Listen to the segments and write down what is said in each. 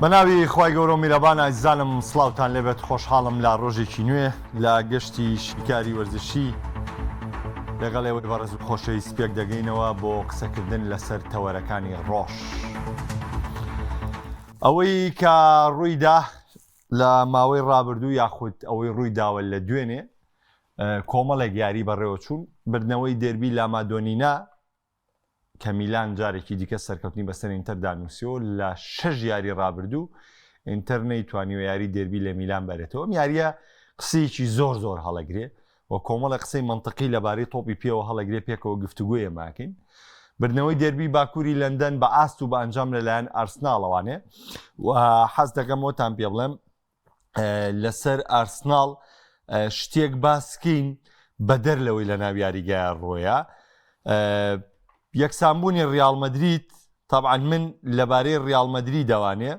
بە ناوی خی گەورە و میرەبان ئایزانم سلااوان لێبێت خۆشحاڵم لە ڕۆژێکی نوێ لە گەشتی شیکاری وەرزشی لەگەڵ ئێوەی بەڕێز و خۆشەی سپێک دەگەینەوە بۆ قسەکردن لەسەر تەوەرەکانی ڕۆژ. ئەوەی کە ڕوویدا لە ماوەی ڕابردوو یاخود ئەوەی ڕووی داوە لە دوێنێ کۆمەڵێک یاری بەڕێوەچوون، بردنەوەی دێربی لامادۆنینا کە میلان جارێکی دیکە سەرکەوتنی بەسەر ئینتەردا نووسیوە، لە شەش یاری رابردوو ئینتەر نەیتوانیوە یاری دێربی لە میلان بەرێتەوە، ئەم یارییە قسەیەکی زۆر زۆر هەڵەگرێ و کۆمەڵە قسەی مەنتقی لەبارەی تۆپی پێوە هەڵەگرێ پێکەوە گفتوگویە ماکەین. بردنەوەی دەربی باکووری لەندەن بە ئاست و بە ئەنجام لەلایەن ئارسناڵەوانێ و حەز دەکەم وەتان پێ بڵێم لەسەر ئارسناڵ شتێک باسکەین بەدەر لەوەی لە ناو یاریگایە ڕۆیە یەکسانبوونی ریال مدریت طبعاان من لەبارەی ریال مدری دەوانێ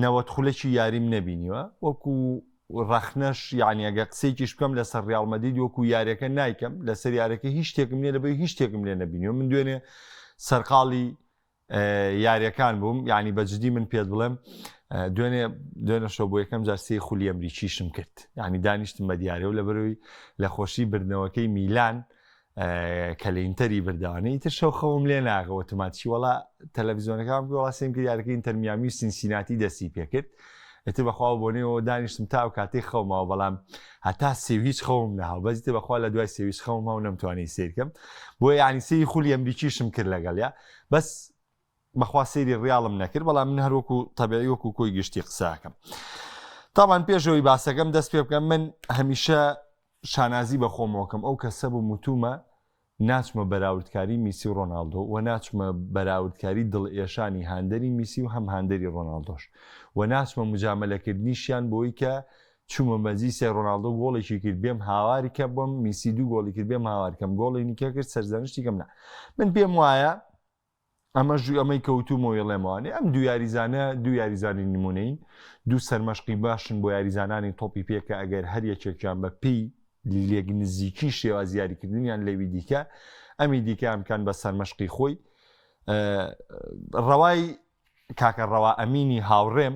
نەوەت خولەکی یاریم نەبینیوە وەکو ڕەخنەش یعنی ئەگە قسێکیش بکەم لەسەر ریال مدید وەکو یارەکە نایکەم لەسەر یارەکە هیچ شتێکم لێ لەبەی هیچ شتێکم لێ نبینیوە من دوێنێ سەرقاڵی یاریەکان بووم یعنی بە جدی من پێت بڵێم دوێنێ دوێنە شۆ بۆ یەکەم جار سێ خولی ئەمریکیشم کرد یعنی دانیشتم بە دیارە و لە بەروی لە خۆشی بردنەوەکەی میلان کە لە ئینتەری برداوانەی تر شەو خەوم لێ ناغەوە تماچی وڵا تەلەڤزیۆنەکان وڵاستیم کرد یارەکە ئینتەرمیامی و سینسیناتی دەستی پێکرد ئەتر بەخوا بۆنەوە دانیشتم تا و کاتی خەومەوە بەڵام هەتا سێویچ خەوم ناوە بەزیتە بەخوا لە دوای سێویچ خەومەوە نەمتوانانی سیرکەم بۆ یعنی سی خولی ئەمریکیشم کرد لەگەڵ یا بەس بەخوا سێری ڕیاڵم نەکرد بەڵام من هەروەکو تەبعی وەکو کۆی گشتی قساکەم تاوان پێشەوەی باسەکەم دەست پێ بکەم من هەمیشە شانازی بە خۆمەوەکەم ئەو کەسە بوو متومە ناچمە بەراوردکاری میسی و ڕۆناالدۆ و ناچمە بەراوردکاری دڵ ئێشانی هاندەری میسی و هەم هاندەری ڕۆناالدۆش و ناچمە مجاملەکردنیشیان بۆی کە چومە مەجلیسێ رۆناڵدۆ گۆڵێکی کرد بێم هاواری کە بم میسی دوو گۆڵی کرد بێم هاوار کەم گۆڵی نیکە کرد سەرزەنشتی کەم نا من پێم وایە ئەمە ژوو ئەمەی کەوتومە وێڵێمەوانێ ئەم دو یاریزانە دو یاریزانی نمونەین دوو سەرمەشقی باشن بۆ یاریزانانی تۆپی پێکە ئەگەر هەر یەکێکیان بە پێی لێک نزیکی شێواز یاریکردنیان لەوی دیکە ئەمی دیکە ئەمکان بە سەرمەشقی خۆی ڕەوای کاکە ڕەوا ئەمینی هاوڕێم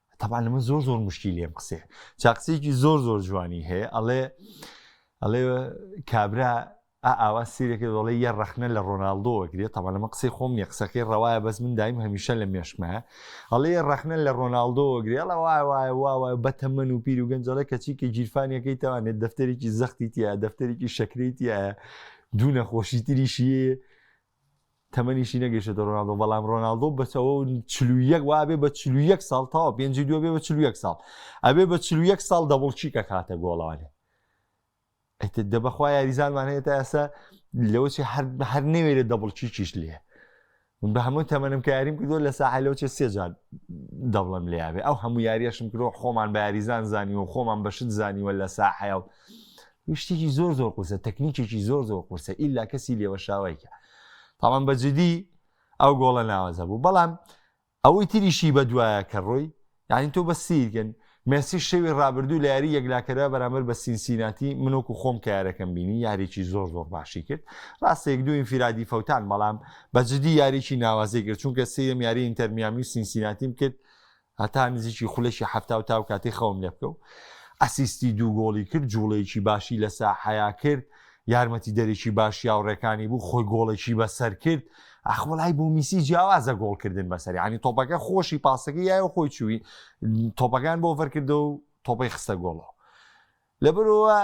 تەبان لەمە زۆر زۆر مشکی لێم قسێ چاقسێکی زۆر زۆر جوانی هەیە ئەڵێ ئەڵێ کابرا ئاوا سیرێکی دەڵێ یە ڕخنە لە ڕۆناالدۆوە گرێت تەمان لەمە قسەی خۆم نیە قسەکەی ڕەوایە بەس من دایم هەمیشە لە مێشکمە ئەڵێ ڕخنە لە ڕۆناالدۆوە گرێڵە وای وای وای بە تەمەن و پیر و گەنجەڵە کەچی کە گیرفانەکەی توانێت دەفتەرێکی زەختی تیا دەفتەرێکی شەکرێتیە دوو نەخۆشی تریشیە تەمەنیشی نەگەیشتۆتە رۆناڵدۆ بەڵام رۆناڵدۆ بەسەوە چل و یەک وابێ بە چل و یەک ساڵ تاوە پێنجی دوێ بێ بە چل و یەک ساڵ ئەبێ بە چل و یەک ساڵ دەبڵچیک ئەکاتە گۆڵانێ ئەتە دە بەخوا یاریزانمان هەیە تا ئێستا لەوەچی هەر هەر نەوێرێت دەبڵچیکیش لێ من بە هەموو تەمەنم کە یاریم کردو لە ساحە لەوچێ سێجار دەبڵم لێیاێ ئەو هەموو یاریەشم کرۆ خۆمان بە یاریزان زانیوە خۆمان بەشت زانیوە لە ساحەیە و شتێکی زۆر زۆر قورسە تەکنیکێکی زۆر زۆر قورسە ئیلا کەسی لێوەشاوایکە تاوان بە جدی ئەو گۆڵە ناوەزە بوو بەڵام ئەوەی تریشی بە دوایە کە ڕۆی یعنی تۆ بە سیرگەن مێسی شەوی ڕابردوو لە یاری یەکلاکەرە بەرامبەر بە سینسیناتی منۆک و خۆم کە یارەکەم بینی یاریی زۆر زۆر باشی کرد ڕاستێک دوو ئینفرادی فەوتان بەڵام بە جدی یاریی ناوازەی کرد چونکە سیم یاری ئینتەرمیامی و سینسیناتیم کرد هەتا نزیکی خولەکی حەفتا و تا و کاتەی خەوم لێ بکەو ئەسیستی دوو گۆڵی کرد جوڵەیەکی باشی لە ساحەیا کرد یارمەتی دەرێکی باش یاوڕێکانی بوو خۆی گۆڵێکی بەسەر کرد ئەخوڵای بۆ میسی جیاوازە گۆڵکردن بەسەری عنی تۆپەکە خۆشی پاسەکە یایە خۆی چووی تۆپەکان بۆ فەرکردە و تۆپەی خستە گۆڵەوە لەبەرەوە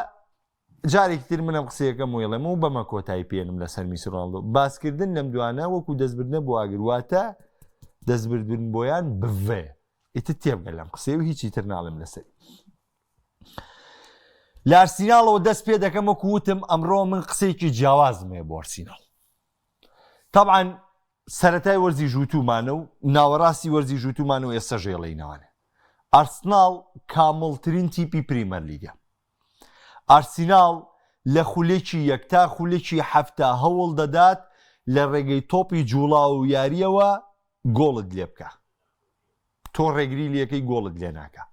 جارێکی تر من ئەم قسەیەکەم ویڵێم و بەمە کۆتایی پێنم لەسەر میسی ڕۆناڵدۆ باسکردن لەم دوانە وەکو دەستبردنە بۆ ئاگر واتە دەستبردن بۆیان بڤێ ئیتر تێبگە لەم قسەی و هیچی تر ناڵێم لەسەر لارسیناڵەوە دەست پێ دەکەم وەکو وتم ئەمڕۆ من قسەیەکی جیاوازمێ بۆ ئەرسیناڵ طبعاً سەتای وەرزی ژووتومانە و ناوەڕاستی وەرزی ژووتومان و ئێستا ژێڵینەوانێ ئەرسناڵ کامڵترین تیپی پریمەر لیگە ئارسیناڵ لە خولەکی یەک تا خولەکی حەفتا هەوڵ دەدات لە ڕێگەی تۆپی جوڵاو و یارییەوە گۆڵت لێ بکا تۆ ڕێگری لەکەی گۆڵت لێ ناکە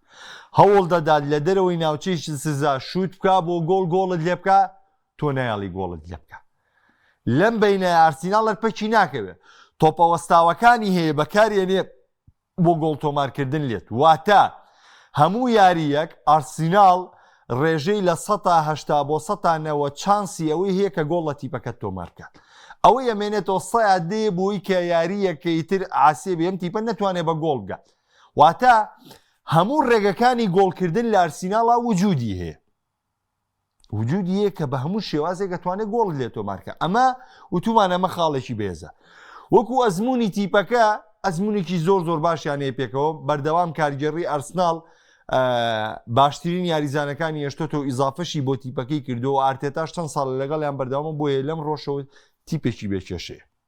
هەوڵ دەدات لە دەرەوەی ناوچەی سزا شووت بکە بۆ گۆڵ گۆڵت لێ بکە تۆ نایاڵی گۆڵت لێ بکە لەم بینە ئارسیناڵەر پەکی ناکەوێت تۆپەوەستاوەکانی هەیە بەکارێنێ بۆ گۆڵ تۆمارکردن لێت واتە هەموو یارییەک ئارسیناڵ رێژەی لە سەتا هەشتا بۆ سەتا نەوەد چانسی ئەوەی هەیە کە گۆڵ لە تیپەکەت تۆمار بکات ئەوەی ئەمێنێتەوە سەیا دێ بۆی کە یارییەکەی تر عاسێ بێم تیپە نەتوانێت بە گۆڵ بگات واتە هەموو ڕێگەکانی گۆڵکردن لە ئارسیناڵا وجودی هەیە وجودی یە کە بە هەموو شێوازێک ئەتوانێت گۆڵی لێ تۆمارکە ئەمە وتومان ئەمە خاڵێکی بێزە وەکو ئەزمموی تیپەکە ئەزمونێکی زۆر زۆر باشیانەیە پێکەوە بەردەوام کارگێڕی ئەرسناڵ باشترین یاریزانەکانی هێشتۆتە و ئیزافەشی بۆ تیپەکەی کردو و ئارتێتاش چەند ساڵ لەگەڵیان بەردەوامە بۆیە لەم ڕۆژەوە تیپێکی بێکێشێ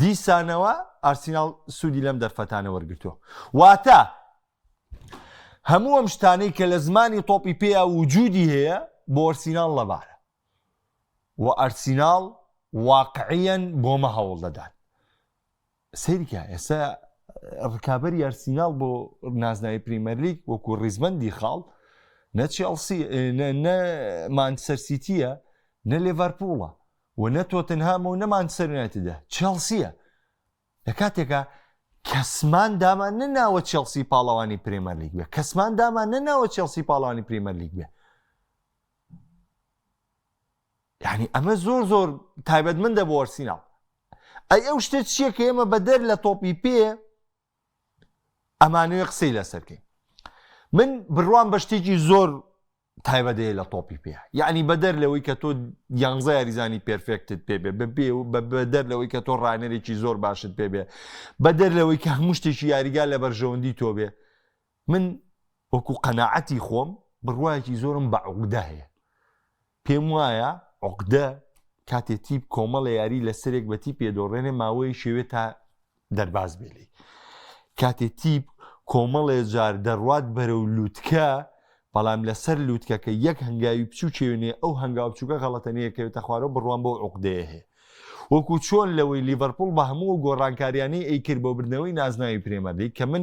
دیسانەوە ئارسیناڵ سوودی لەم دەرفەتانە وەرگرتووە واتە هەموو ئەم شتانەی کە لە زمانی تۆپی پێیا وجودی هەیە بۆ ئەرسیناڵ لەبارە و ئەرسیناڵ واقعیەن بۆمە هەوڵ دەدات سریکە ئێستا ڕکابەری ئەرسیناڵ بۆ نازناوی پریمەرلیک وەکو ڕیزبندی خاڵ نەچی ئەڵسی نە مانسەر سیتیە نە لێڤەرپوڵە و نە تۆتنهامە و نە مانچستەر یونایتدە، چێڵسییە. لە کاتێکا کەسمان دامان نەناوە چێڵسی پاڵەوانی پرێمەرلیگ بێ، کەسمان دامان نەناوە چێڵسی پاڵەوانی پریمەرلیگ بێ. یعنی ئەمە زۆر زۆر تایبەت من دە بۆ ئەرسیناڵ ئەی ئەو شتە چییە کە ئێمە بەدەر لە تۆپی پێ ئەمانوێ قسەی لەسەرکەین من بڕوام بە شتێکی زۆر تایبەت هەیە لە تۆپی پێ یعنی بەدەر لەوەی کە تۆ یانزە یاریزانی پێرفێکتت پێبێ بەبێ و بەدەر لەوەی کە تۆ ڕانەرێکی زۆر باشت پێبێ بەدەر لەوەی کە هەموو شتێکی یاریگا لە بەرژەوەندی تۆ بێ من وەکو قەنەعەتی خۆم بڕواایەکی زۆرم بە عقدە هەیە پێم وایە عقدە کاتێ تیپ کۆمەڵە یاری لە سەرێک بەتی پێدۆڕێنێ ماوەی شێوێ تا دەرباز بێ لێی. کاتێ تیپ کۆمەڵێ جار دەڕوات بەرەو لووتکە، بەڵام لەسەر لووتکەکە یەک هەنگاوی بچوو چێوێنێ ئەو هەنگاو بچووکە غەڵەتە نەیەکەوێتە خوارەوە بڕوام بەو عوقدەیە هەیە. وەکو چۆن لەوەی لیڤەرپوڵ بە هەموو گۆڕانکاریانەی ئەیکرد بۆ بردنەوەی نازناوی پرێمەرلیگ کە من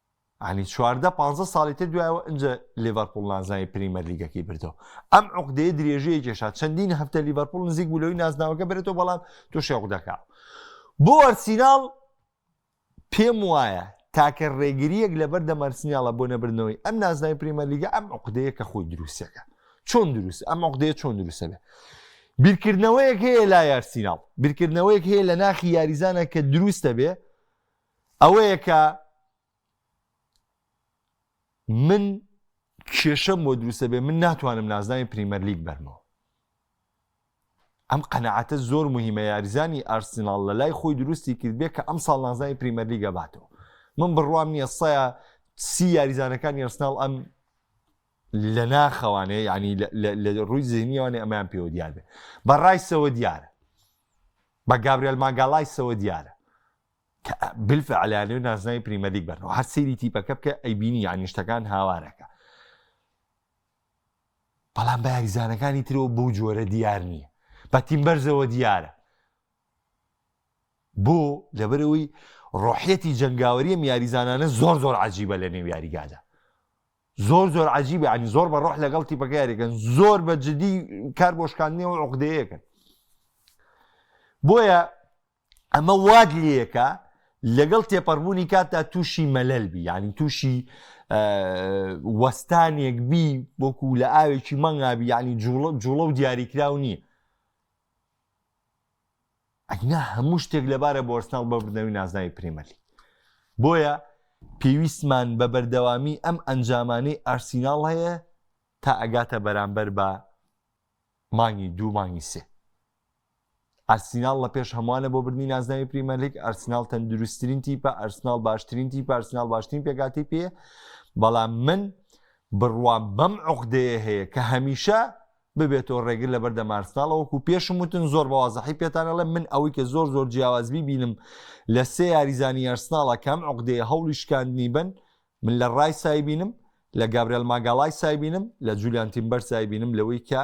یانی چواردە پانزە ساڵی تر دوایەوە ئنجە لیڤەرپوڵ نازناوی پریمەر لیگەکەی بردەوە ئەم عقدەیە درێژەیە کێشا چەندین هەفتە لیڤەرپوڵ نزیک بوو لەوەی نازناوەکە بێتەوە بەڵام تووشی عقدەکە بۆ ئەرسیناڵ پێم وایە تاکە ڕێگریەک لەبەر دەمەرسنیاڵە بۆ نەبرنەوەی ئەم نازنای پریمەر لیگە ئەم عقدەیە کە خۆی دروستەکە چۆن دروست ئەم عقدەیە چۆن دروستە بێ بیرکردنەوەیەک هەیە لا یارسیناڵ بیرکردنەوەیەک هەیە لە ناخی یاریزانە کە دروستە بێ ئەوەیە کە من کێشەم بۆ دروستە بێ من ناتوانم نازناوی پریمەرلیگ بەرمەوە ئەم قەنەعاتە زۆر مهمە یاریزانی ئارسناڵ لە لای خۆی دروستی کرد بێ کە ئەم ساڵ نازناوی پریمەرلیگە باتەوە من بڕوام نییە سەیە سی یاریزانەکان یارسناڵ ئەم لە ناخەوانێ ینی لە ڕووی زیینیەوانێ ئەمان پێوە دیارێ بە ڕایسەوە دیارە بە گابریل ماگالایسەوە دیارە کە بالفعل یانەوێت نازناوی پریمەرلیگ بەرنەوە هەر سەیری تیپەکە بکە ئەیبینی یانی شتەکان هاوارەکە بەڵام بە یاریزانەکانی ترەوە بەو جۆرە دیار نییە بە تیم بەرزەوە دیارە بۆ لەبەرەوەی ڕۆحەتی جنگاوەریەم یاریزانانە زۆر زۆر عجیبە لە نێو یاریگادا زۆر زۆر عجیبە عنی زۆر بە ڕۆح لەگەڵ تیپەکە یاریەکەن زۆر بە جدی کار بۆشکاندنەوە عقدەیەکەن بۆیە ئەمە وات لێکا لەگەڵ تێپەڕبوونی کاتدا تووشی مەلەل بی یعنی تووشی وەستانێک بی وەکو لە ئاوێکی مەنگابی یعنی جوڵە جوڵە و دیاریکراو نییە ئەگنا هەموو شتێک لەبارە بۆ ئەرسناڵ بە بردنەوەی نازناوی پرێمەلی بۆیە پێویستمان بە بەردەوامی ئەم ئەنجامانەی ئارسیناڵ هەیە تا ئەگاتە بەرامبەر بە مانگی دوو مانگی سێ ئەرسیناڵ لە پێش هەمووانە بۆ بردنی نازناوی پریمەرلیگ ئەرسناڵ تەندروستترین تیپە ئەرسناڵ باشترین تیپە ئەرسناڵ باشترین پێکاتی پێ بەڵام من بڕوام بەم عقدەیە هەیە کە هەمیشە ببێتەوە ڕێگر لە بەردە مارسناڵەوەکو پێشم وتن زۆر بەوازەحی پێتانەڵێ من ئەوەی کە زۆر زۆر جیاوازبی بینم لە سێ یاریزانی یارسناڵە کەم عقدەیە هەوڵی شکاندنی بن من لە ڕای سایبینم لە گابرێل ماگالای سایبینم لە جولیان تیمبەر سایبینم لەوەی کە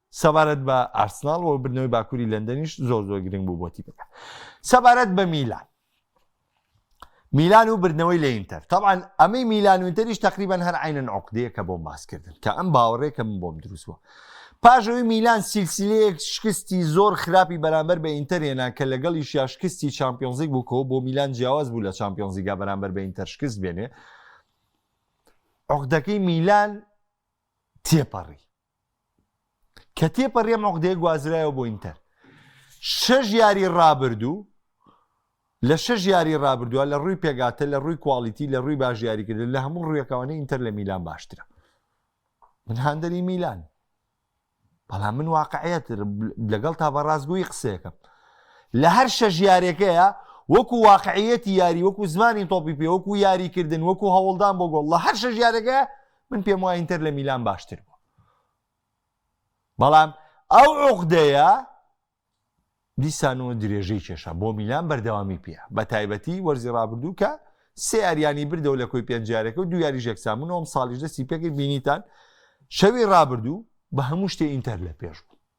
سەبارەت بە ئارسناڵ و بردنەوەی باکووری لەندەنیش زۆر زۆر گرنگ بوو بۆ تیپەکە سەبارەت بە میلان میلان و بردنەوەی لە ئینتەر طبعاان ئەمەی میلان و ئینتەریش تقریبان هەر عینەن عقدەیەکە بۆم باسکردن کە ئەم باوەڕێکە من بۆم دروست بووە پاژەوەی میلان سیلسیلەیەک شکستی زۆر خراپی بەرامبەر بە ئینتەرێنا کە لەگەڵی شاشکستی چمپیۆنزیک بووکەوە بۆ میلان جیاواز بوو لە چمپیۆنزیگا بەرامبەر بە ئینتەرشکست بێنێ عقدەکەی میلان تێپەڕی کە تێپەڕیەم عقدەیە گوازرایەوە بۆ ئینتەر شەژ یاری ڕابردوو لە شەژ یاری ڕابردووە لە ڕووی پێگاتە لە ڕووی کوالیتی لە ڕووی باش یاریکردن لە هەموو ڕویەکەوانە ئینتەر لە میلان باشترە من هاندەری میلان بەڵام من واقعەت لەگەڵ تا بە ڕاستگویی قسەکەم لە هەر شەژ یارەکەیە وەکو واقعەتی یاری وەکو زمانی تۆپی پێ وەکو یاریکردن وەکو هەوڵدان بۆ گۆڵ لە هەر شەژ یارەکە من پێم وای ئینتەر لە میلان باشتر بوو بەڵام ئەو عقدەیە دیسان و درێژەی کێشە بۆ میلان بەردەوامی پێ بە تایبەتی وەرزی ڕابردوو کە سێ یاریانی بردەوە لە کۆی پێنجارەکە و دو یاری ژێکسامون ئەوم ساڵیش دەستی پێکرد بینیتان شەوی ڕابردوو بە هەموو شتێ ئینتەر لە پێش بوو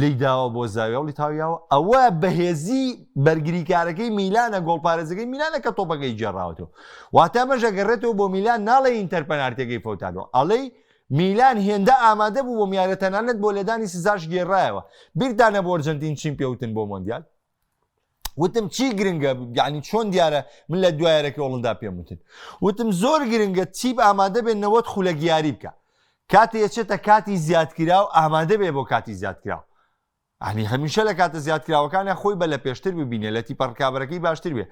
لێی داوە بۆ زاویە و لیتاویاوە ئەوە بەهێزی بەرگریکارەکەی میلانە گۆڵپارێزەکەی میلانە کە تۆپەکەی جێراوەتەوە واتا مەژەگەڕێتەوە بۆ میلان ناڵێ ئینتەر پەنارتەکەی فەوتانەوە ئەڵێی میلان هێندە ئامادە بوو بۆ میارە تەنانەت بۆ لێدانی سزاش گێڕایەوە بیردانە بۆرجنتین چین پێوتن بۆ مۆندیال وتم چی گرنگە یعنی چۆن دیارە من لە دوایەرەکە وڵندا پێم وتن وتم زۆر گرنگە تیپ ئامادە بێت نەوەت خولە گیاری بکە کاتی ئەچێتە کاتی زیادکرا و ئامادە بێ بۆ کاتی زیادکرا ئەنی هەمیشە لە کاتە زیادکراوەکانە خۆی بە لە پێشتر ببینێ لە تیپە ڕکابەرەکەی باشتر بێ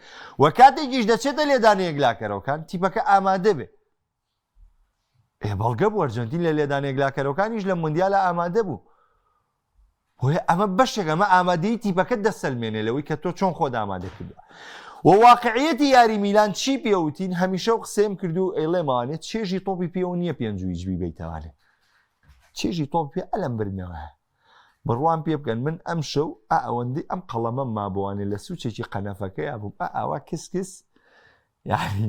و کاتێکیش دەچێتە لێدانەیەک لاکەرەوەکان تیپەکە ئامادە بێ ئێ بەڵگە بوو ئەرجەنتین لە لێدانە یەکلاکەرەوەکانیش لە مندیالە ئامادە بوو بۆیە ئەمە بەشێک ئەمە ئامادەی تیپەکە دەسەلمێنێ لەوەی کە تۆ چۆن خۆت ئامادە کردو و واقعەتی یاری میلان چی پێوتین هەمیشە و قسەیم کردو ئەیڵێمانێ چێژی تۆپی پێوە نییە پێنجویجبی بیتوانێت چێژی تۆپ پێ ئەلم برنەوە بڕوان پێ بکەن من ئەم شەو ئەوەندەی ئەم قەڵەمە مابووانێ لە سوچێکی قەنەفەکەی بووم ئاوا کسکس یعنی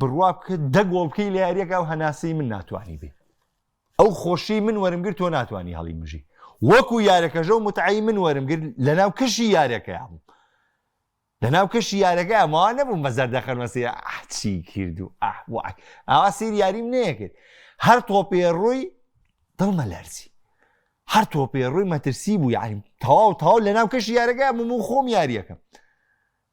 بڕوا بکە دە گۆڵ بکەی لە یاریەکە و هەناسەی من ناتوانانی بێ ئەو خۆشی من وەرم گرت تۆ ناتوانانی هەڵی مژی وەکو یارەکەژە و متعی من وەرم گرت لەناو کەشی یارەکەیان بوو لەناو کەشی یارەکە ئەمەوە نەبووم بە زەردە خەرمەسی ئەحچی کرد و ئەحواک ئاوا سیر یاریم نەیەکرد هەر تۆپێ ڕووی دڵمە لەرزی هەر تۆپێ ڕووی مەترسی بوو یاریم تەواو تاو لەناو کەشی یارەکە بووم و خۆم یاریەکەم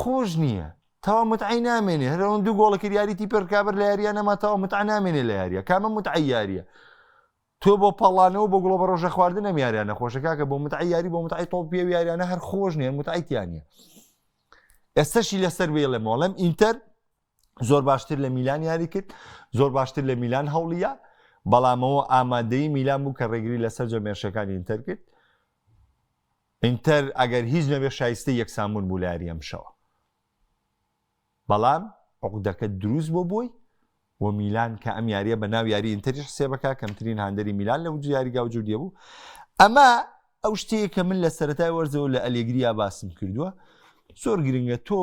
خۆش نییە تاوا متعەی نامێنێ هەر ئەوەن دوو گۆڵە کرد یاری تیپێ رکابەر لە یاریە نەما تاوا متعە نامێنێ لە یاریە کامە متعە یاریە تۆ بۆ پاڵانەوە بۆ گوڵە بە ڕۆژە خواردن ئەم یاریانە خۆشە کاکە بۆ متعە یاری بۆ متعی تۆڵ پێ یاریانە هەر خۆش نیە متعیتیانە ئێستەشی لەسەر بێڵێ مۆڵم ئینتەر زۆر باشتر لە میلان یاری کرد زۆر باشتر لە میلان هەوڵە بەڵامەوە ئامادەی میلان بوو کە ڕێگری لەسەر جەمێرشەکانی ئینتەر کرد ئینتەر ئەگەر هیچ نەبێت شایستەی یەکسانبوون بوو لە یاریی ئەمشەوە، بەڵام عوقدەکە دروست بۆ بۆی و میلان کە ئەم یارییە بە ناو یاریی ئینتەریش حسێب بکە، کەمترین هاندەری میلان لە یاری گاوجو دیە بوو. ئەمە ئەو شتەیە کە من لە سەرەتای وەرزەوە لە ئەلێگریا باسم کردووە، زۆر گرنگە تۆ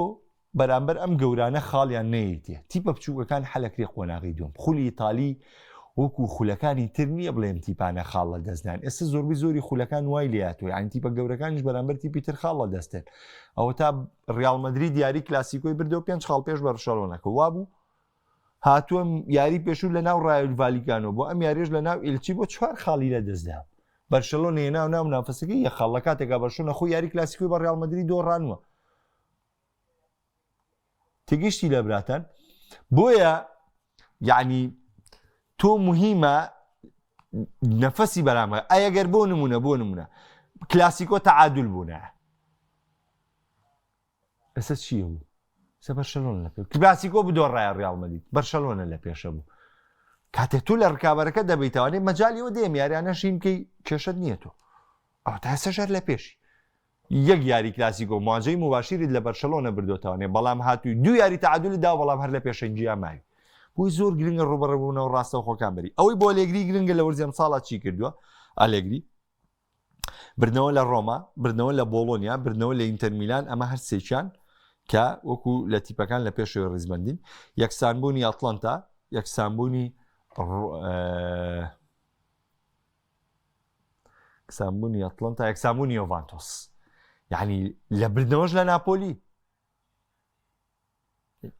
بەرامبەر ئەم گەورانە خاڵیان نەیەیتێ تیپە بچووکەکان حەلەکرێ قۆناغی دووەم خولی ئیتالی وەکو خولەکانی تر نییە بڵێم تیپانە خاڵ لە دەستدان ئێستا زۆربەی زۆری خولەکان وای لاتۆ یان تیپە گەورەکانیش بەرامبەر تیپی تر خاڵ لە دەستێن ئەوە تا ریال مدرری دیاری کلاسیکۆی بردەوە پێنج خاڵ پێش بەرشەڵۆنەکە وابوو هاتووەم یاری پێشوو لە ناو ڕایل ڤالیگانۆ بۆ ئەم یاریش لە ناو ئیلچی بۆ چوار خاڵی لە دەستدا بەرشەلۆنێ ناو ناو نافەسەکە یە خاڵ لە کاتێکا بەرشونە خۆ یاری کلاسیکۆی بە ڕالمەدرری دۆڕانوە تگشتی لە براتان بۆیە یعنی تۆ مهمە نەفەسی بەرامە ئەگەر بۆ نمونە بۆ نمونە کلاسیکۆ تەعادل بوونە ئەسە چیە بوو سە بەرشەلۆن لە پێ کلاسیکۆ بدۆ ڕای ڕالمەدیت بەرشەلۆنە لە پێشە بوو کاتێ تو لە ڕکابەرەکە دەبیتوانێت مەجاالیەوە دێم یاریانە شینکەی کێشت نییە تۆ ئەو تا سەژەر لە پێشی یەک یاری کلاسیکۆ مواجەی موباشیرت لە بەرشەلۆنە بردۆتەوانێ بەڵام هاتووی دوو یاری تەعادولت داوە بەڵام هەر لە پێشەنگیا ماوی بۆی زۆر گرنگە ڕوبەڕبوونەوە ڕاستەوخۆکان بری ئەوەی بۆ لێگری گرنگە لە وەرزی ئەمساڵا چی کردووە ئالێگری بردنەوە لە ڕۆما بردنەوە لە بۆڵۆنیا بردنەوە لە ئینتەرمیلان ئەمە هەر سێکیان کە وەکو لە تیپەکان لە پێشەوە ڕیزبندین یەکسانبوونی ئەتلانتا یەکسانبوونی یەکسانبوونی ئەتڵەنتا یەکسانبوونی یۆڤانتۆس یعنی لە بردنەوەش لە ناپۆلی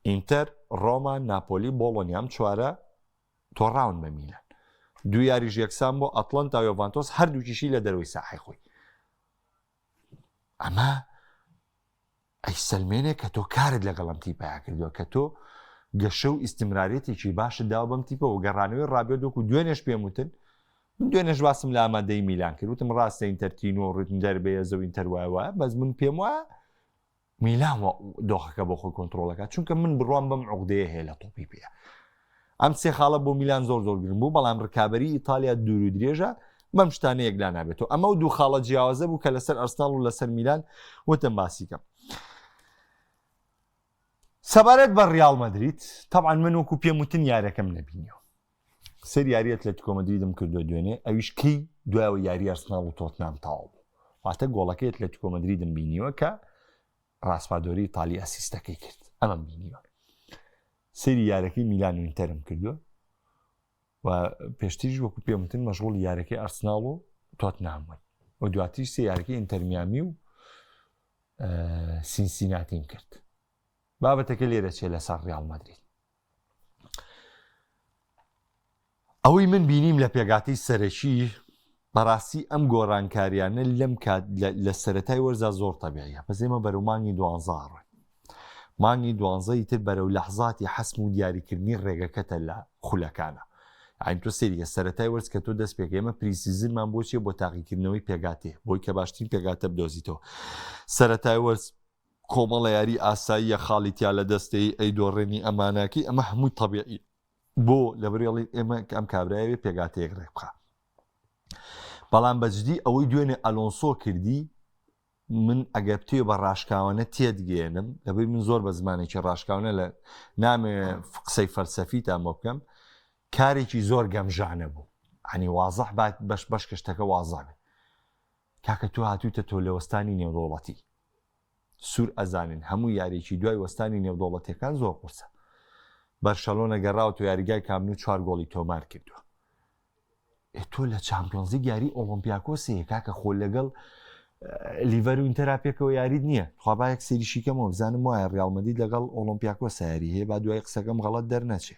ئینتەر ڕۆما ناپۆلی بۆڵۆنیام چوارە تۆڕاون بە میلان دو یاریش یەکسان بۆ ئەتلەن تا یۆڤانتۆس هەردووکیشی لە دەروی ساحی خۆی ئەمە ئەیسەلمێنێ کە تۆ کارت لەگەڵ ئەم تیپەیە کردووە کە تۆ گەشە و ئیسیمرارێتێکی باشت داوە بەم تیپە و گەڕانەوەی ڕابێت دۆک و دوێنێش پێم وتن من دوێنێش باسم لە ئامادەی میلان کرد وتم ڕاستە ئینتەرتینۆ ڕتم دەربەیە زەوین تەروایە بەس من پێم وایە میلان دۆخەکە بۆ خۆی کۆنتترۆلەکە چونکە من بڕوام بەم عقدەیە هەیە لە تۆپی پێە ئەم سێ خاڵە بۆ میلان زۆر زۆر گرن بوو بەڵام ڕکابی ئیتالیا دوور و درێژە بەم شتانە یەکلا نابێت و ئەمە و دوو خاڵە جیاوازە بوو کە لەسەر ئەرسناڵ و لەسەر میلان وتم باسیکەم سەبارەت بە ڕیاڵ مەدریت تاعاان من وەکو پێم وتن یارەکەم نبینیەوە سەر یاری ئەتلەتیکۆ مەدریدم کردو دوێنێ ئەویش کەی دوایەوە یاری ئەرسناڵ و تۆتنام تاو بوو واتە گۆڵەکەی ئەتلەتیکۆ مەدریدم بینیوە کە ڕاسپادۆری تالی ئەسیستەکەی کرد ئەمەم بینیوە سری یارەکەی میلان و ئینتەرم کردووە و پێشتیش وەکو پێمتن مەشغول یارەکەی ئەرسناڵ و تۆت نامون و دواتیش سێ یارەکەی ئینتەرمیامی و سینسیناتیم کرد بابەتەکە لێرە چێ لەسەر ڕیال مەدرید ئەوەی من بینیم لە پێگاتەی سەرەکی بەڕاستی ئەم گۆڕانکاریانە لەم کات لە سەتای وەرزا زۆر تەبیعە بەس ئێمە بەرەو مانگی دوانزاڕێ مانگی دوانزەی تر بەرەو لەحزاتی حەسم و دیاریکردنی ڕێگەکەتە لە خولەکانە ئاین تۆ سریە سەتای وەرز کە تۆ دەست پێک ئێمە پریسیزنمان بۆچیە بۆ تاقیکردنەوەی پێگاتێ بۆی کە باشترین پێگاتە بدۆزیتەوە سەتای وەرز کۆمەڵە یاری ئاساییە خاڵی تیا لە دەستەیی ئەیدۆڕێنی ئەماناکی ئەمە هەمووی تەبیعی بۆ لەبرێڵی ئێمە کە ئەم کابرایەوێ پێگاتەیەک ڕێک بخە بەڵام بەجدی ئەوەی دوێنێ ئەلۆنسۆ کردی من ئەگەر توێ بە ڕاشکاوانە تێدگەێنم لەبەی من زۆر بە زمانێکی ڕاشکاونە لە نامێ قسەی فەلسەفی تا بۆ بکەم کارێکی زۆر گەمژانە بوو هەنی وازح بات بەش بەش کەشتەکە وازانێ کاکە تۆ هاتویتە تۆلەوەستانی نێودەوڵەتی سور ئەزانن هەموو یاریکی دوای وەستانی نێودەوڵەتەکان زۆر قورسە بەرشەلۆنە گەڕاو تۆ یاریگای کامن و چوار گۆڵی تۆمار کردووە تۆ لە چمپیۆنزی یاری ئۆلمپیاکۆسەیە کاکە خۆ لەگەڵ لیڤەر و ئینتەرا پێکەوە یاریت نییە خوابایەک سریشیکەمەوە بزانم وایە ڕالمەدی لەگەڵ ئۆلمپیاکۆ ساری هەیە با دوای قسەکەم غەڵت دەرنەچێ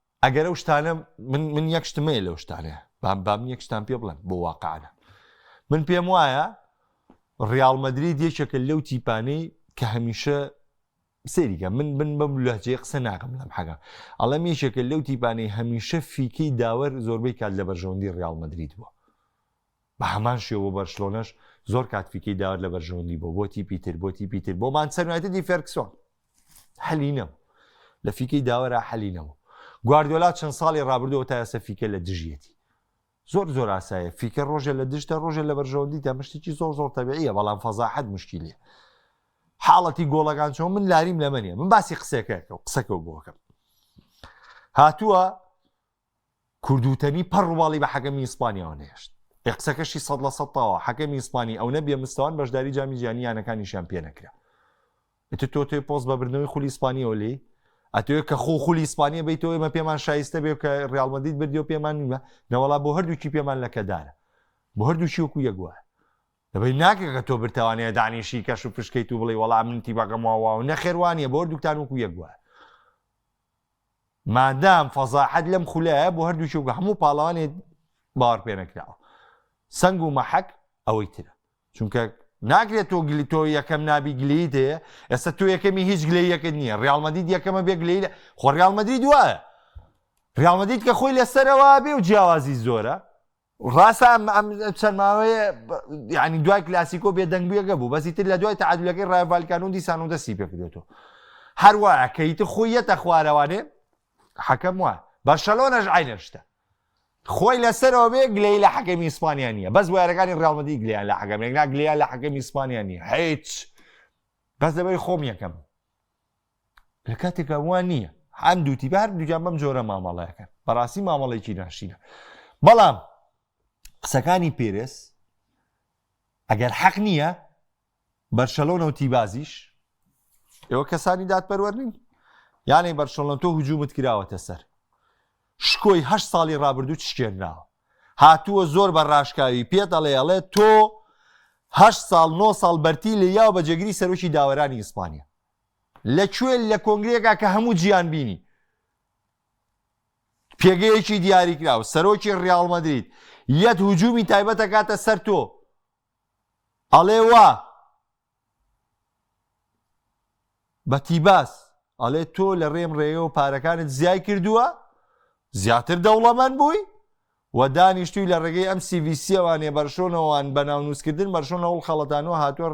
ئەگەر ئەو شتانە من من یەک شتمەیە لەو شتانە بام بام یەک شتان پێ بڵێن بۆ واقعانە من پێم وایە ڕیاڵ مەدرید یەکێکە لەو تیپانەی کە هەمیشە سریکە من بن بەم لەجێ قسە ناکەم لەم حەگە ئەڵم یەکێکە لەو تیپانەی هەمیشە فیکەی داوەر زۆربەی کات لە بەرژەوەندی ڕیاڵ مەدرید بووە بە هەمان شێوە بەرشلۆنەش زۆر کات فیکەی داوەر لە بەرژەوەندی بۆ بۆ تیپی تر بۆ تیپی تر بۆ مانچستەر یونایتدی فێرگسۆن حەلی نەبوو لە فیکەی داوەرا حەلی نەبوو گواردیۆلا چەند ساڵی ڕابردەوە تا ئێستا فیکە لە دژیەتی زۆر زۆر ئاسایە فیکە ڕۆژە لە دژتە ڕۆژە لە بەرژەوەندی تا مشتێکی زۆر زۆر تەبیعە بەڵام فەزاحەت مشکیلە حاڵەتی گۆڵەکان چۆن من لاریم لەمەنیە من باسی قسەکەەکە و قسەکە بۆکەم هاتووە کوردوتەنی پەڕ ڕوباڵی بە حەکەمی ئیسپانیاوە نەهێشت. ئێ قسەکەشی سەد لە سەد تەواوە، حەکەمی ئیسپانی ئەونە بێ مستەوان بەشداری جامی جیهانی یانەکانیشیان پێ نەکرا. ئیتر تۆ تۆی پۆست بە بردنەوەی خولی ئیسپانیەوە لێی ئەتوێ کە خۆ خولی ئیسپانیە بیتەوە ئێمە پێمان شایستە بێ کە ڕیال مەدید بردی و پێمان نیمە نەوەڵا بۆ هەردووکی پێمان لەکەدارە بۆ هەردووکی وەکو یەگووە دەبی ناکە کە تۆ برتوانەیە دانیشی کەش و پشکیت و بڵێ وەڵام منتی بەگەمەوە و نەخێوانە بۆ دوکتان وەکو یەگووە مادام فەزاحەت لەم خولایە بۆ هەردوو چووکە هەموو پاڵەوانێ باوەڕپێنەکراوە سنگ و مەحەک ئەوەی ترە چونکە ناکرێت تۆ گلی تۆ یەکەم نابی گلیت هەیە ئێستا تۆ یەکەمی هیچ گلێ یەکت نییە ڕالمەدید یەکەمە بێ گلی لە خۆ ڕالمەدرید وایە ڕالمەدید کە خۆی لەسەرەوە بێ و جیاوازی زۆرە ڕاستە ئەم ئەم چەند ماوەیە یعنی دوای کلاسیکۆ بێدەنگبیەکە بوو بەسی تر لە دوای تعادلەکەی ڕایڤالکان و دیسان و دەستی پێکردێتەوە هەروە کەیت خۆیەتە خوارەوانێ حەکەم وە بەرشەلۆنەش عینەشتە خۆی لەسەرەوە بێ گلەی لە حەکەمی ئیسپانیا نیە بەس وارەکانی ڕاڵمەدی گلیان لە حەکەمێک ناگلیا لە حەکەمی ئیسپانیا نیە هیچ بەس لەبەری خۆم یەکەم لە کاتێکا وا نییە هەم دووتی بە هەردووجان بەم جۆرە مامەڵەکەن بەڕاستی مامەڵێکی ناشینە بەڵام قسەکانی پێرس ئەگەر حەق نییە بەرشەلۆنە و تیبازیش ئێوە کەسانی دادپەروەرنین یانەی بەرشەڵۆن تۆ هجوومت کراوەتە سەر شکۆی هە ساڵی ڕابردوو چشکێنراوە هاتووە زۆر بە ڕاشکاوی پێت ئەڵێ ئەڵێ تۆ هە ساڵ نۆ ساڵ بەرتی لە یاو بە جێگری سەرۆکی داوەرانی ئیسپانیا لە کوێ لە کۆنگرەیەکا کە هەموو جیان بینی پێگەیەکی دیاریکراو سەرۆکی ڕیاڵ مەدرید یەت هجوومی تایبەتە کاتە سەر تۆ ئەڵێ وا بەتیباس ئەڵێ تۆ لە ڕێم ڕێەوە پارەکانت زیای کردووە زیاتر دەوڵەمەند بووی و دانیشتووی لە ڕێگەی ئەم سی ڤی سیەوانێ بەرشۆنەوەوان بە ناونووسکردن بەرشۆن لە هەوڵ خەڵەتانەوە هاتووە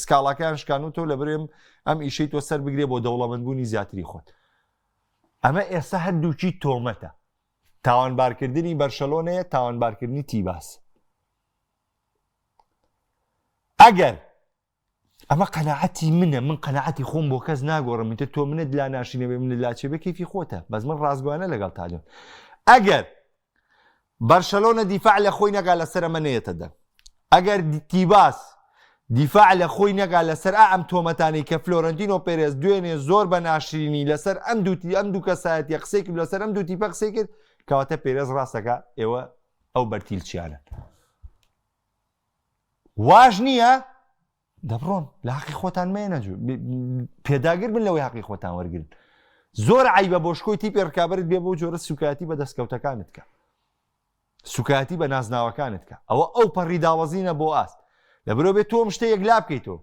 سکاڵاکەیان شکان و تۆ لە برێم ئەم ئیشەی تۆ سەر بگرێ بۆ دەوڵەمەندبوونی زیاتری خۆت ئەمە ئێستا هەردووکی تۆمەتە تاوانبارکردنی بەرشەلۆنەیە تاوانبارکردنی تیباس ئەگەر ئەمە قەنەعەتی منە من قەنەعەتی خۆم بۆ کەس ناگۆڕم ئیتر تۆ منت لا ناشینەوەی منت لا چێ بە کیفی خۆتە بەس من ڕاستگویانە لەگەڵ تالێن ئەگەر بەرشەلۆنە دیفاع لە خۆی نەگا لەسەر ئەمە نەیەتە دەر ئەگەر تیباس دیفاع لە خۆی نەگا لەسەر ئا ئەم تۆمەتانی کە فلۆرنتینۆ پێرێز دوێنێ زۆر بە ناشرینی لەسەر ئەم دووتی ئەم دوو کەسایەت یە قسەی کرد لەسەر ئەم دوو تیپە قسەی کرد کەواتە پێرێز ڕاستەکە ئێوە ئەو بەرتیلچیانە واش نییە دەبڕۆن لە حقی خۆتان مێنە پێداگر بن لەوەی حقی خۆتان وەرگن زۆر عیبە بۆ شکۆی تیپی ڕکابرت بێ بۆ جۆرە سوکایەتی بە دەستکەوتەکانت کە سوکایەتی بە نازناوەکانت کە ئەوە ئەو پەڕی داوەزینە بۆ ئاست لە برۆ بێت تۆم شتە یەک لا بکەیتەوە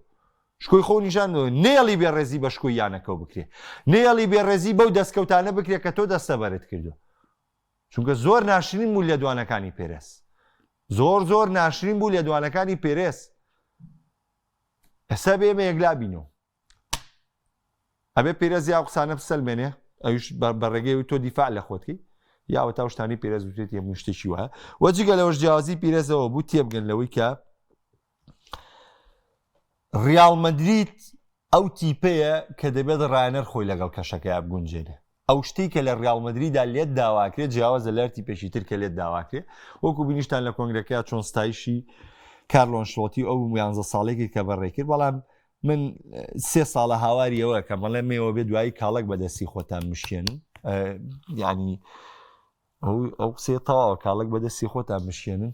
شکۆی خۆ نیشان نێڵی بێ ڕێزی بە شکۆی یانەکەەوە بکرێ نێڵی بێ ڕێزی بەو دەستکەوتانە بکرێت کە تۆ دەستەبەرت کردو چونکە زۆر ناشرین بوو لێدوانەکانی پێرێز زۆر زۆر ناشرین بوو لێدوانەکانی پێرێز ئەسە بێمە یەکلا بینەوە ئەبێ پێرێز یا قسانە بسەلمێنێ ئەوش بە ڕێگەی و تۆ دیفاع لە خۆتکی یاوە تا شتانی پێرێز وتێت یە مشتێکی وایە وەجگە لەەوەش جیازی پیرێزەوە بوو تێبگەن لەوەی کە ڕیاڵ مەدرید ئەو تیپەیە کە دەبێت ڕانەر خۆی لەگەڵ کەشەکەی بگونجێنێ ئەو شتی کە لە ڕیاڵ مەدریدا لێت داواکرێت جیاوازە لەرتی پێشی تر کە لێت داواکرێت وەکو بینیشتان لە کۆنگرەکە چۆن ستایشی کارلۆن شڵۆتی ئەو یانزە ساڵێکی کە بەڕێکرد بەڵام من سێ ساڵە هاواریەوە کە مەڵێ مێوە بێ دوایی کاڵک بەدەستی خۆتان مشێن ینی ئەو قسێ تەواوە کاڵک بەدەستی خۆتان مشێنن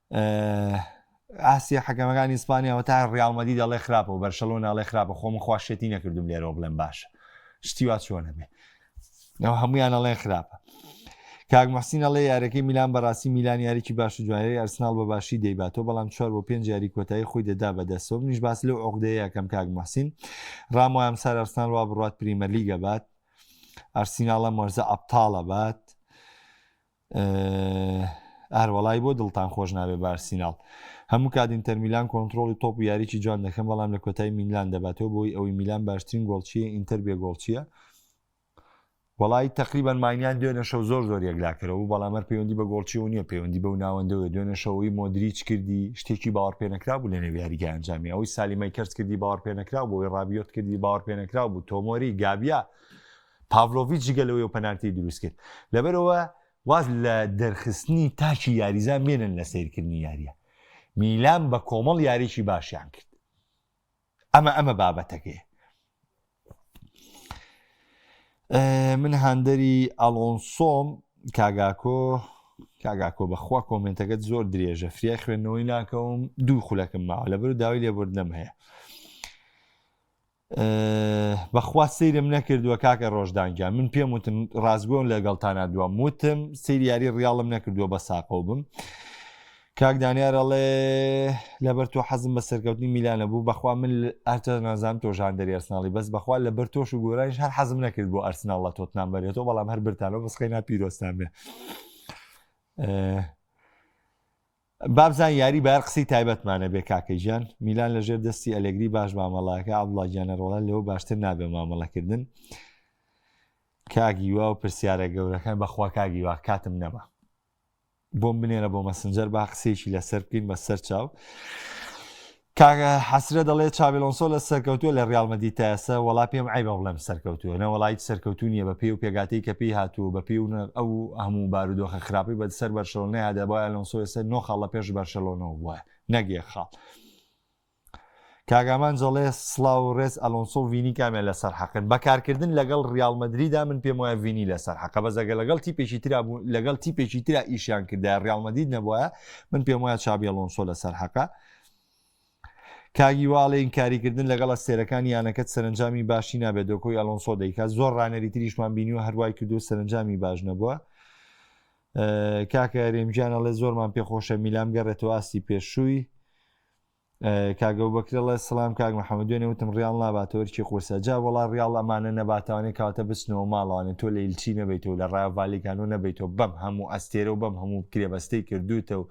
ئاسیا حەکەمەکانی ئیسپانیا وە تا ڕیاڵ مەدی دەڵێ خراپە و بەرشەلۆنە ئەڵێ خراپە خۆ من خوا شێتی نەکردوم لێرەوە بڵێم باشە شتی وا چۆنە بێ ئەو هەمویان ئەڵێن خراپە کاک محسین ئەڵێ یارەکەی میلان بەڕاستی میلان یاریکی باش و جوایری ئەرسناڵ بە باشی دەیباتەوە بەڵام چوار بۆ پێنج یاری کۆتایی خۆی دەدا بەدەسەوە منیش باس لەو عقدەیە کەم کاک محسین ڕام وام سار ئەرسناڵ وا بڕات پریمەرلیگە بات ئەرسیناڵە مەرزە ئەپتاڵە بات ئار وەڵای بۆ دڵتان خۆش نابێ بارسیناڵ هەموو کات ئینتەرمیلان کۆنتترۆڵی تۆپ و یاریی جوان دەکەم بەڵام لە کۆتای میلان دەباتەوە بۆی ئەوەی میلان باشترین گۆڵچیە ئینتەر بێ گۆڵچیە وڵی تقریبان ماینیان دوێنە شەو زۆر زۆر یەکلاکەرەوە بەڵامەر پەیوەندی بە گۆڵچیەوە نیە پەیوەندی بەو ناوەندەوە دوێنە شەوەی مۆدریچ کردی شتێکی باوەڕ پێنەکرا بوو لە نێویاریگە ئەنجامی ئەوەی سالیمای کەرت کردی باوەڕ پێنەکرا بۆی ڕابیۆت کردی باوەڕ پێنەکرا بوو تۆمۆری گابیا پاڤلۆڤیچ جگە لەوەی پەنارتی دروستکرد لەبەرەوە واز لە دەرخستنی تاکی یاریزان بێنن لە سیرکردنی یاریە میلان بە کۆمەڵ یاریی باشیان کرد ئەمە ئەمە بابەتەکەی من هاندەری ئەڵۆنسۆم کاگاکۆ کاگاکۆ بەخوا کۆمنتەکەت زۆر درێژە فریای خوێندنەوەی ناکەوم دوو خولەکەم ماوە لەبەر داوای لێبوردنم هەیە بەخوا سەیرم نەکردووە کاکە ڕۆژدان گیان من پێم وتن ڕاستگۆن لەگەڵتانا دوام وتم سری یاری ڕیاڵم نەکردووە بە ساقەو بم کاک دانیارەڵێ لەبەر تۆ حەزم بە سەرکەوتنی میلانە بوو بەخوا من ئەرتە نازان تۆ ژان دەری ئەرسناڵی بەس بەخوا لە بەر تۆش و گۆرانیش هەر حەزم نەکرد بۆ ئەرسناڵ لە تۆتنان بەرێتەوە بەڵام هەر برتانەوە بەسخی ناپیرۆستان بێ بابزان یاری بەر قسەی تایبەتمانە بێ کاکە گیان میلان لە ژێر دەستی ئەلگری باش مامەڵاکە ئەبڵاگیانە ڕۆڵە لەوە باشتر نابێ مامەڵەکردن کاگیوا و پرسیارە گەورەکان بەخوا کاگیوا کاتم نەما بۆم بنێرە بۆ مەسنجەر با قسێکی لەسەر بکەین بە سەر چاو کاک حەسرە دەڵێ چابی ئەلۆنسۆ لە سەرکەوتووە لە ڕیاڵ مەدید تا ئێستا وەڵا پێم عەیبە بڵێم سەرکەوتووە نە وەڵا هیچ سەرکەوتوو نییە بەپێی و پێگاتەی کە پێی هاتووە بەپێی و ئەو هەموو بارودۆخە خراپەی بە سەر بەرشەلۆنەیا دەبا ئەلۆنسۆ ئێستا نۆ خاڵ لە پێش بەرشەلۆنەوە بووە نەک یەک خاڵ کاگامان جەڵێ سلااو و ڕێز ئەلۆنسۆ و ڤینی کامیان لەسەر حەقن بەکارکردن لەگەڵ ریال مدریدا من پێم وایە ڤینی لەسەر حەقە بەزەگە لەگەڵ تیپێکی ترا بوو لەگەڵ تیپێکی ترا ئیشیان کردا ریال مدید نەبووە من پێم وایە چابی ئەلۆنسۆ لەسەر حەقە کاک هیوا ئەڵێ ئینکاریکردن لەگەڵ ئەستێرەکانی یانەکەت سەرنجامی باشی نابێت دۆکۆی ئەلۆنسۆ دەیکات زۆر ڕانەری تریشمان بینیوە هەروای کردو سەرنجامی باش نەبووە کاکە رێمجیان ئەڵێ زۆرمان پێخۆشە میلام گەڕێتەوە ئاستی پێشووی کاگەو بەکرڵە سلام کاک محەممەد دوێنێ وتم ڕیاڵ ناباتەوەرکی قورسە جا وڵا ڕیاڵ ئەمانە نەباتوانێ کاتە بچنەوە ماڵوانێ تۆ لە ئیلچی نەبیتەوە لە ڕاڤالیکانۆ نەبیتەوە بەم هەموو ئەستێرە و بەم هەموو کرێبەستەی کردوتە و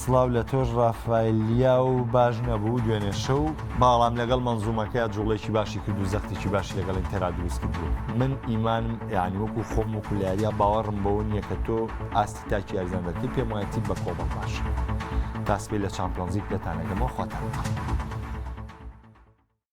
سڵاو لە تۆش ڕافایل لیاو باش نەبوو دوێنێ شەو باڵام لەگەڵ مەنزومەکەیا جوڵێکی باشی کرد و زەختێکی باشی لەگەڵ ئینتەرا دروست کردووە من ئیمانم یانی وەکو خۆم و کولیاریا باوەڕم بەوە نییە کە تۆ ئاستی تاکی یاریزان دەکرد پێم وایە تیپ بە کۆمەڵ باش تاسپی لە چامپیۆنزیک پێتانەکەمەوە خۆتان